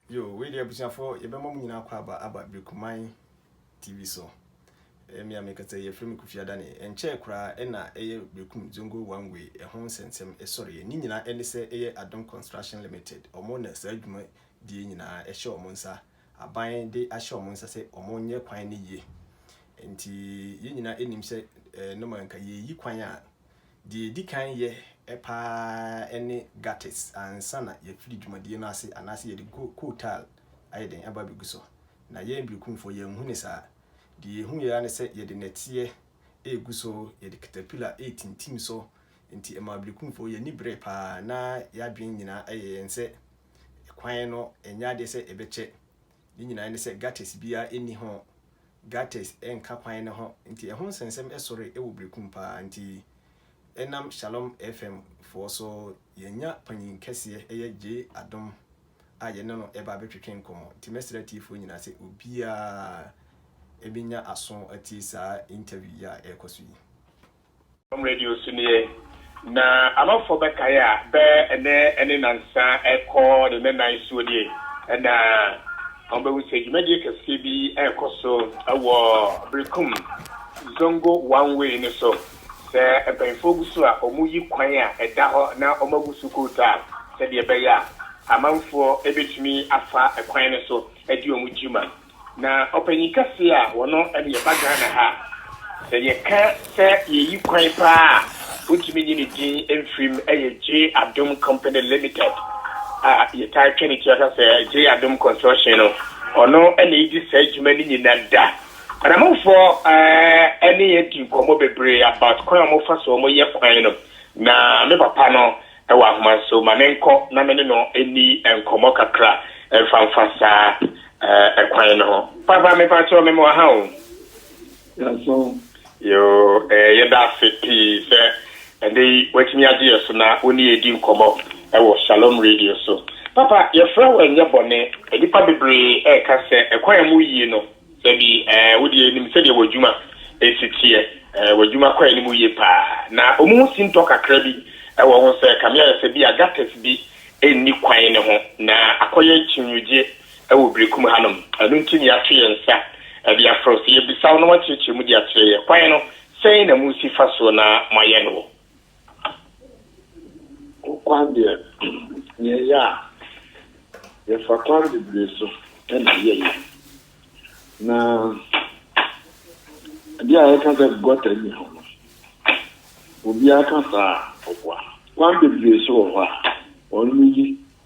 Yoo wei deɛ abusuafoɔ yɛbɛma mo nyinaa akwaaba aba Brikuman TV so. Ɛyɛ me a mekasa yi, yɛfrɛ me Kofi Adane. Ɛnkyɛɛ koraa ɛna ɛyɛ Brekum Zongo One Way ɛho nsɛnsɛm ɛsɔreɛ. Ne nyinaa ɛne sɛ ɛyɛ Adom Construction Limited, wɔn na saa dwuma die nyinaa ɛhyɛ wɔn nsa. Aban de ahyɛ wɔn nsa sɛ wɔn nyɛ kwan no yie. Nti yɛn nyinaa ɛnim sɛ normal nka yɛreyi kwan a Deɛ yɛdi kan yɛ pa ara ne gutters ansa na yɛafiri dwumadie no ase anaasɛ yɛde coal tar ayɛ dɛn aba abɛgu so. Na yɛn Berekumfoɔ yɛanhu no saa. Deɛ yɛhuiɛ ara ne sɛ yɛde nnɛteɛ regu so, yɛde caterpillar retintim so, enti ɛmaa Berekumfoɔ yɛn ani beree pa ara na yɛn adwene nyinaa yɛ yɛn sɛ kwan no nyɛ adeɛ sɛ ɛbɛkyɛ Ne nyinaa ne sɛ gutters biara nni ho, gutters nka kwan no ho, nti ɛho nsɛnsɛm sɔre wɔ Berekum paa, nti ɛnam Shalom FM foɔ so yɛanya panyin kɛseɛ ɛyɛ Gyee Adom a yɛne no ɛreba abɛtwetwe nkɔmmɔ, nti mɛsrɛ atiefoɔ nyinaa sɛ obiara ɛbɛnya aso atie saa interview yi a ɛrekɔ so yi. Dɔm radio so nie na amanfoɔ bɛkae a bɛ ɛnɛ ne nansa ɛkɔ ne nnanan soɔ nie na wɔbɛhu sɛ dwumadie kɛseɛ bi ɛkɔ so wɔ Berekum Zongo one way no so sɛ mpanyinfoɔ gu so a wɔn yi kwan a ɛda hɔ na wɔn agu so kootaa sɛdeɛ ɛbɛyɛ a amanfoɔ ɛbɛtumi afa ɛkwan no so adi wɔn dwuma. Na ɔpanyin kɛse a ɔno ɛde ɛba Ghana ha a, sɛ yɛka sɛ yɛyi kwan paa a wontumi nyi ne din mfiri mu ɛyɛ Gyee Adom Company Limited a yɛtaa twa ne ti aka sɛ Gyee Adom Construction no, ɔno na ɛdi saa adwuma no nyina da. Kwanamanfoɔ ɛne yɛn adi nkɔmmɔ bebree about kwan a wɔfa so wɔyɛ kwan no, na me papa no wɔ ahomaso, ma menkɔ na me ne no nni nkɔmmɔ kakra mfa mfa saa ɛkwan no ho. Papa, mepa kyɛw, me mmoa ha o. Yɛaso. Yoo, eh, yɛda ase pii sɛ ɛnɛ yi woatumi agye yɛ so na wo ne yɛdi nkɔmmɔ wɔ Shalom Radio so. Papa, yɛfrɛ wo ɛnyɛ bɔne, nnipa bebree ɛreka sɛ ɛkwan a mu yie no, Dabi, ɛɛ, wo deɛ nim sɛdeɛ w'adwuma si teɛ. Ɛɛ, w'adwuma kɔ anim yie paa. Na wɔn ho sintɔ kakra bi wɔ ho sɛ ɛkame ayɛ sɛ bia gutters bi nni kwan no ho, na akɔyɛ akyinnyeɛ wɔ Berekum hanom. Ɛno nti na yɛato yɛn nsa de afrɛ wo sɛ yɛbisa wo na woakyerɛkyerɛ mu de akyerɛ yɛn kwan no sɛn na mosi fa so na moayɛ no wɔ. Hokwan deɛ, nea ɛyɛ a, yɛfa kwan bebree so na ɛyɛ yɛn. Na adeɛ a yɛka sɛ gɔta nni hɔ no, obiara ka saa a, ɔboa. Kwan bebree nso wɔ hɔ a, wɔyiyi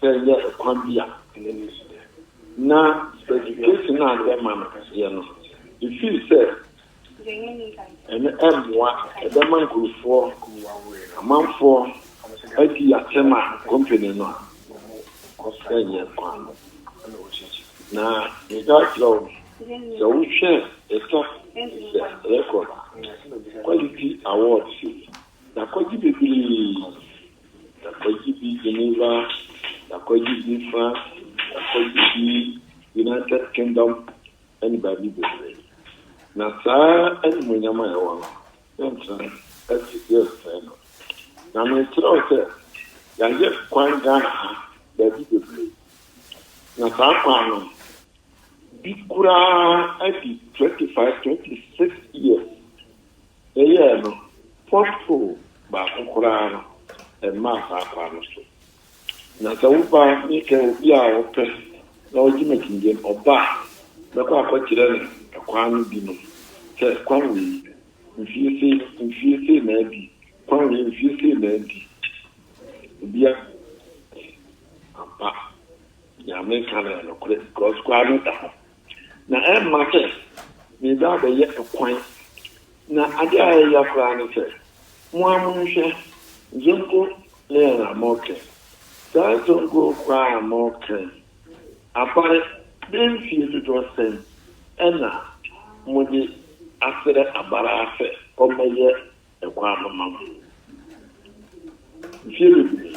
Dɛ nnyɛ kwan bi a nna no si dɛ na education a nna ɛma no yɛ no efii sɛ ɛno ɛmmoa ɛbɛma nkurofoɔ amanfoɔ adi atɛm a company no ɛnyɛ kwan no na metaa kyerɛ wo sɛ wohwɛ ɛtɔ sɛ record quality awards yi yɛakɔgye bebree Da Kwagye bi Geneva Da Kwagye bi France Da Kwagye bi United Kingdom ne baabi bebree. Na saa animuonyam a yɛwɔ no, yɛntena ase, yɛnsɛe no. Na merekyerɛw sɛ yɛayɛ kwan Ghana ha baabi bebree. Na saa kwan no bi koraa adi twenty five, twenty six years. Yɛyɛɛ no, pothole baako koraa no, ɛmmaa saa kwan no so. Na sɛ woba ne sɛ obi a ɔpɛ na ɔgye m'akyinnye no, ɔba a, mɛkɔ akɔkyerɛ no ɛkwan no binom, sɛ, Kwan wei, mfie sei, mfie sei na adi, kwan wei, mfie sei na adi. Obiara nni ho. Ampa, nea mereka no yɛ nokorɛ, because kwan no da hɔ. na ɛremma sɛ mereba abɛyɛ kwan. Na ade a ɛyɛ ya koraa ne sɛ, mo ara monhwɛ Zongo Leon a moreka yi. Saa Zongo koraa a moreka yi, abare bɛyɛ mfie dodoɔ sɛn na mode asrɛ abare ara sɛ ɔmmɛyɛ kwan mma mo. Mfie bebree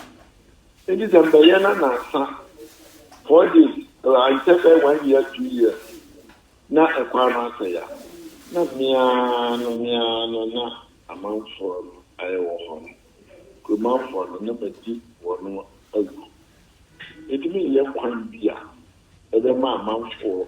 nti sɛ mbɛyɛ na nansa four days ankyɛ bɛ one year two year na kwan no asɛe a na meaa no meaa no na amanfoɔ no ayɛ wɔ hɔ no kuromanfoɔ no na madi wɔn awu. Nti menyɛ kwan bi a ɛbɛma amanfoɔ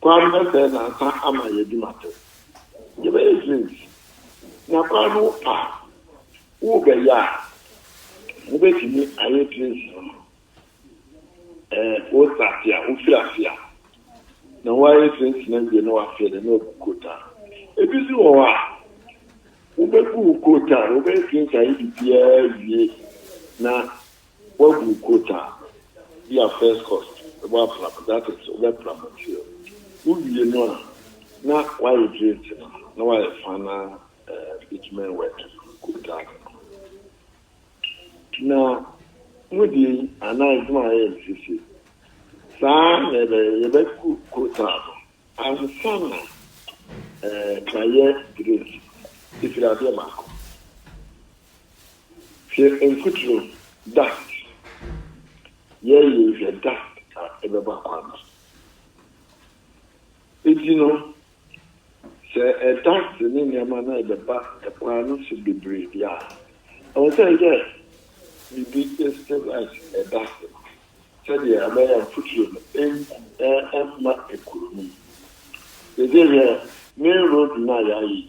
Kwan bɛsɛɛ nnansa ama yɛadi no atɛn. Yɛbɛyɛ drinks na kwan no wo pɛ a worebɛyɛ a, wobɛtumi ayɛ drinks no ma wo. Wo starte a, wofiri ase a, na woayɛ drinks no awie na woafeɛ no na wagu coat a. Ɛbi nso wɔ hɔ a, wobɛgu wo coat a, wobɛyɛ drinks ayɛ biribiara awie na Woagu quota bi a first cost na woapra mu that is wobɛpra mu nti wowie no a na woaregrate no na woayɛ final bitumen work quota no. Na mo deɛ yi anaa adwuma a yɛyɛ no sisi saa na ɛbɛyɛ yɛbɛgu quota no ansa na ɛɛ kra yɛ grate ɛfiri adeɛ baako. Hwɛ mfuturo, dust. Yɛyɛ hwɛ dust a ɛbɛba kwan no so. Enti no, sɛ dust ne nneɛma no rebɛba kwan no so bebree deɛ a, ɛwɔ sɛ yɛyɛ biribi stabilize dust no sɛdeɛ ɛbɛyɛ a mfuturo no remma ɛkɔ mu. Seesei hwɛ main road no a yɛayɛ yi,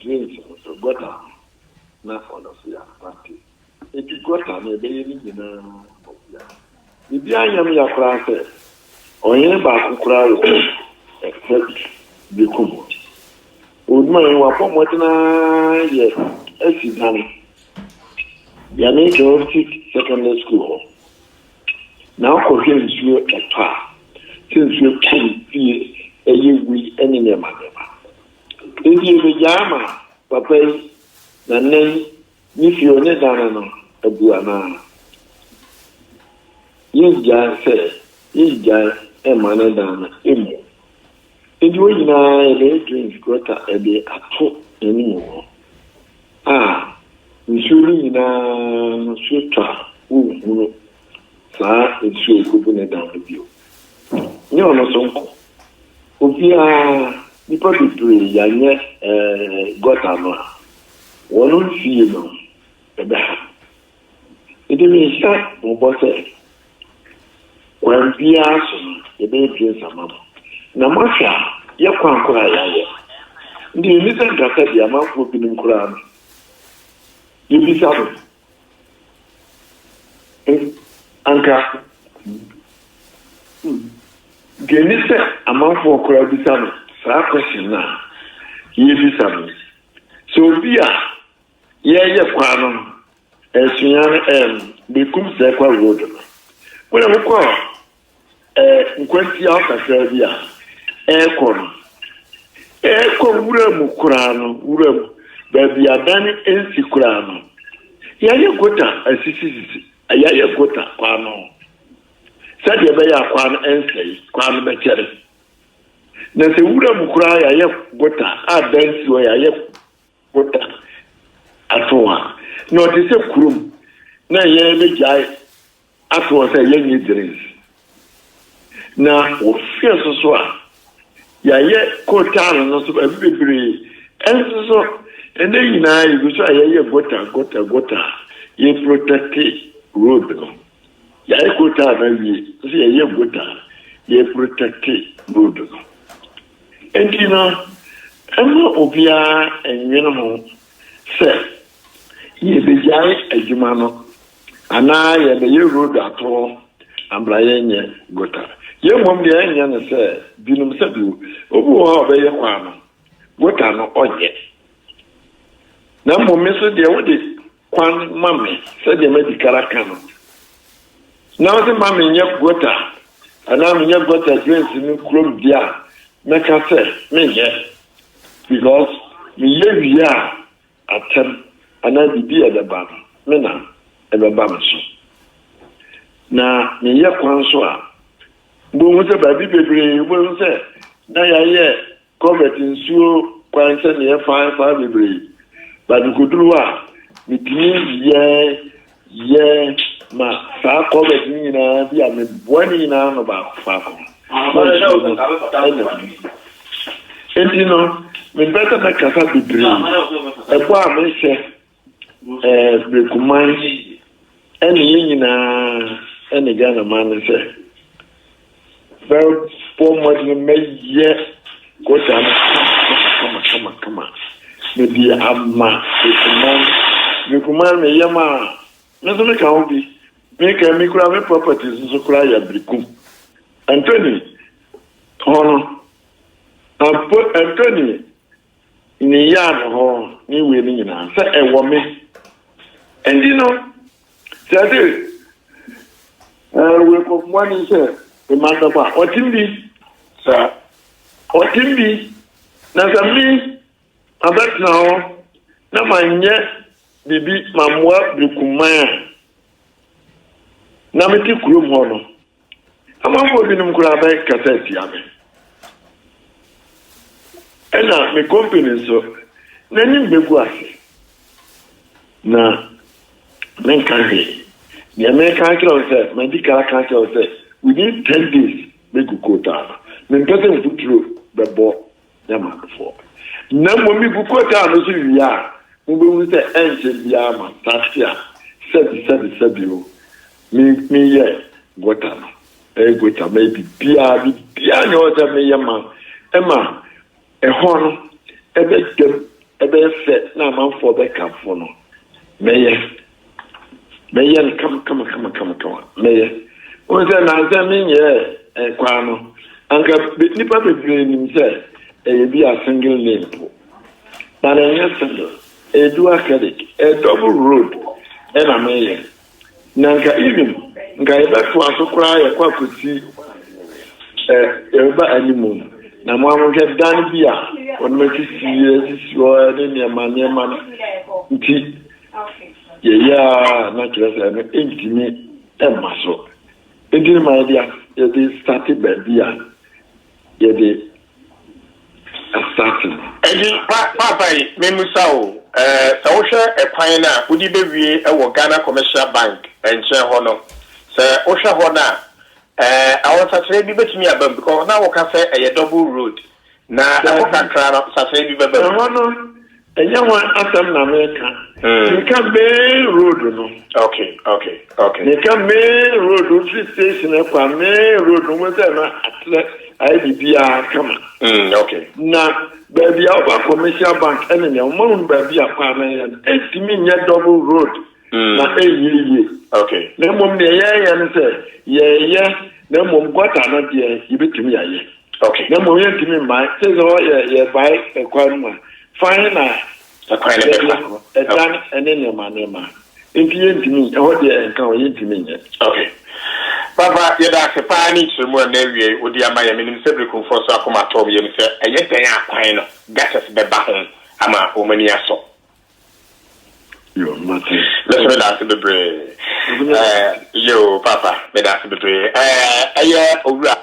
Drinks no so, gɔta no na ɔnɔsea pate. Enti gɔta no ɛbɛyɛ ne nyinaa nɔsea. Biribi anyɛ me ya koraa sɛ ɔhene baako koraa wɔ ɛsɛ bi bɛku me. Onuae, wabɔ mmɔden ara yɛ asi dan Yɛne Girls Seek Secondary School hɔ Na kɔhwɛ nsuo ɛtɔ a, sɛ nsuo tɔ wo fie, ɛyɛ wui ne nneɛma nneɛma. Enti yɛbɛgyaa ma papa yi na nnɛ yi ne fie hɔ ne dan no abu anaa? Yɛngyae sɛ, yɛngyae mma ne dan no mmu. Enti wei nyinaa yɛbɛyɛ drains, gutter, de ato anim hɔ a nsuo no nyinaa nso tɔ a wonhunu saa nsuo a ɛkɔbu ne dan no bio. Nyɛ ɔno nso nko, obiara, nnipa bebree yɛanyɛ gutter no a wɔn mfie no ɛbɛha. Mede me nsa bobɔ sɛ, kwan biara so no, yɛbɛyɛ nsa ama mo. Na moahwɛ a, yɛ kwan koro a yɛayɛ no. Ɛnde yenni sɛ nka sɛdeɛ amanfoɔ binom koraa no, yɛbisa mo, anka deɛ ɛne sɛ amanfoɔ koraa bisa no saa question no a yɛrebisa mo yi. Sɛ obi a. Yɛɛyɛ kwan no no, ɛɛsonya no ɛɛm bekum sɛɛ kwa road no. Wone ho kɔ ɛɛ nkwantia hɔ kakraa bi a ɛɛkɔ no, ɛɛkɔ wura mu koraa no, wura mu, baabi a dan ɛnsi koraa no, yɛɛyɛ gota asisisisi, yɛɛyɛ gota kwan no ho, sɛdeɛ ɛbɛyɛ a kwan no ɛnsɛe, kwan no bɛkyɛre. Na sɛ wura mu koraa yɛayɛ gota a dan si hɔ, yɛayɛ Woda asow a, na ɔte sɛ kurom na yɛrebegyae ato hɔ sɛ yɛnyɛ drinks. Na wohwɛ so so a, yɛayɛ kotal no so baabi bebree. Ɛnso so, ɛnnɛ nyinaa yegu so a yɛyɛ gota, gota, gota a yɛreprotɛkte road no. Yɛayɛ gotaa no awie te sɛ yɛyɛ gotaa a yɛreprotɛkte road no. Enti no, mma obiara nnwene ho sɛ yɛbɛgyae adwuma no anaa yɛbɛyɛ road atoro na bra yɛnyɛ gotaa. Yɛn mmom deɛ ɛnyɛ ne sɛ binom sɛbi obi wɔ hɔ a ɔbɛyɛ kwan no, gotaa no ɔnyɛ. Na mmom me nso deɛ wode kwan ma me, sɛdeɛ madi kan aka no, na wode ma menyɛ gota anaa menyɛ gota drains no kurom deɛ a, mɛka sɛ menyɛ. Because meyɛ wie a, atɛm anaa biribi a ɛbɛba no, me na ɛbɛba me so. Na meyɛ kwan so a, wobɛhu sɛ baabi bebree wobɛhu sɛ na yɛayɛ Culvert nsuo kwan sɛ neɛ faa faa bebree but mekoduru hɔ a metumi yɛ yɛ ma saa culvert ne nyinaa bi a meboa ne nyinaa no baako faako na nsuo no ɛna bi enti no mempɛ sɛ mɛkasa bebree ɛbɔ a mehyɛ eh, Brekuman ɛne yɛn nyinaa ɛne Ghana man no sɛ bɛbɔ mmɔden mɛyɛ kota no kama kama kama mede ama Brekuman Brekuman me yam a me nso meka ho bi meka mi kura me properties nso kura yɛ Brekum Anthony hɔ no Anthony Ne yard hɔ ne wei no nyinaa sɛ ɛwɔ me nti no sɛ ɛde wei kɔ mmoa ni sɛ mma no bɛkɔ a ɔtim bi sɛ ɔtim bi na sɛ me abɛtena hɔ na ma nyɛ biribi ma mmoa bɛkuman a na mete kurom hɔ no Amanfoɔ binom koraa bɛkasa atia me. Ɛna me company nso, n'anim bɛgu ase. Na menka hwee. Deɛ meka akyerɛ wo sɛ, madi ka aka akyerɛ wo sɛ, within ten days mɛgu kootaa no. Mempɛ sɛ mfuturo bɛbɔ Dɛ m'adofoɔ, na mmom megu kɔtaa no so wie a, mobɛhunu sɛ ɛnkyɛ biara m'asase a sɛbisɛbisɛbi o, me, meyɛ gɔta no, mɛyɛ gɔta, mɛyɛ biribiara, biribiara nni hɔ sɛ meyɛ ma ɛma ɛhɔ no ɛbɛda mu, ɛbɛyɛ fɛ na amanfoɔ bɛkamfo no, mɛyɛ. mɛyɛ no kamakamakama mɛyɛ wɔn sɛ nansɛ menyɛɛ ɛkwaa no anka nipa bebree nim sɛ ɛyɛ bi a single lane po na na ɛnyɛ single ɛyɛ dual credit ɛyɛ double road ɛna mɛyɛ na nka even nka yɛbɛto aso koraa yɛkɔ akɔsi ɛ yɛbɛba anim na mo ahohwɛ dan bi a wɔn akyi si yɛ sisi hɔ ne nneɛma nneɛma nti. Yɛyɛ ara a na kyerɛ sɛ ɛno ntumi mma so. Enti no ma yɛde as yɛde sate baabi a yɛde asate no. Enti pa paapa yi, memmisa o, eh, sɛ wohwɛ ɛkwan no a wode bɛwie wɔ Ghana Commercial Bank nkyɛn hɔ no, sɛ wohwɛ hɔ no a, eh, awɔnsakyera bi bɛtumi aba mu, because na woka sɛ ɛyɛ double road, Na ɛhɔ kakra no, sasae bi bɛba mu. Ɛhɔ no, ɛnyɛ ho asɛm na meka. Hmm. Meka main road no. Okay, okay, okay. Meka main road, ofiri station ɛkɔ a main road no, mo sɛ na atrɛ ayɛ biribiara kama. Hmm, okay. Na baabi a woba commercial bank ɛne nea ɔma hunu baabi a kɔ a na ɛyɛ no, ɛntumi nyɛ double road. na ɛnyɛ yie. Na mmom deɛ yɛyɛ no sɛ yɛyɛ na mmom gɔta no deɛ yɛbɛtumi ayɛ. Na mmom yɛntumi mmae sɛ sɛ ɔyɛ yɛbae ɛkwan no mu a fan na yɛfa ɛdan ɛne nneɛma nneɛma nti yɛntumi ɛhɔ deɛ ɛnka hɔ yɛntumi nyɛ. Ok papa yɛda ase paa ne nkyerɛmu a na awie wode ama yɛn menim sɛ Berekumfoɔ nso akoma atɔ wɔn yam sɛ ɛyɛ dɛn a kwan no gutters bɛba ho ama wɔn ani asɔ. Mese me daase bebree. Ɛɛ yoo papa me daase bebree ɛɛ ɛyɛ owura.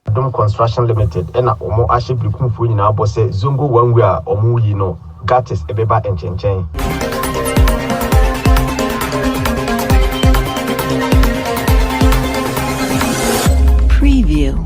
Adom Construction Limited na wɔn ahyɛ Berekumfoɔ nyinaa bɔ sɛ Zongo one way a wɔn reyi no Gurtis beba nkyenkyɛn. Preview.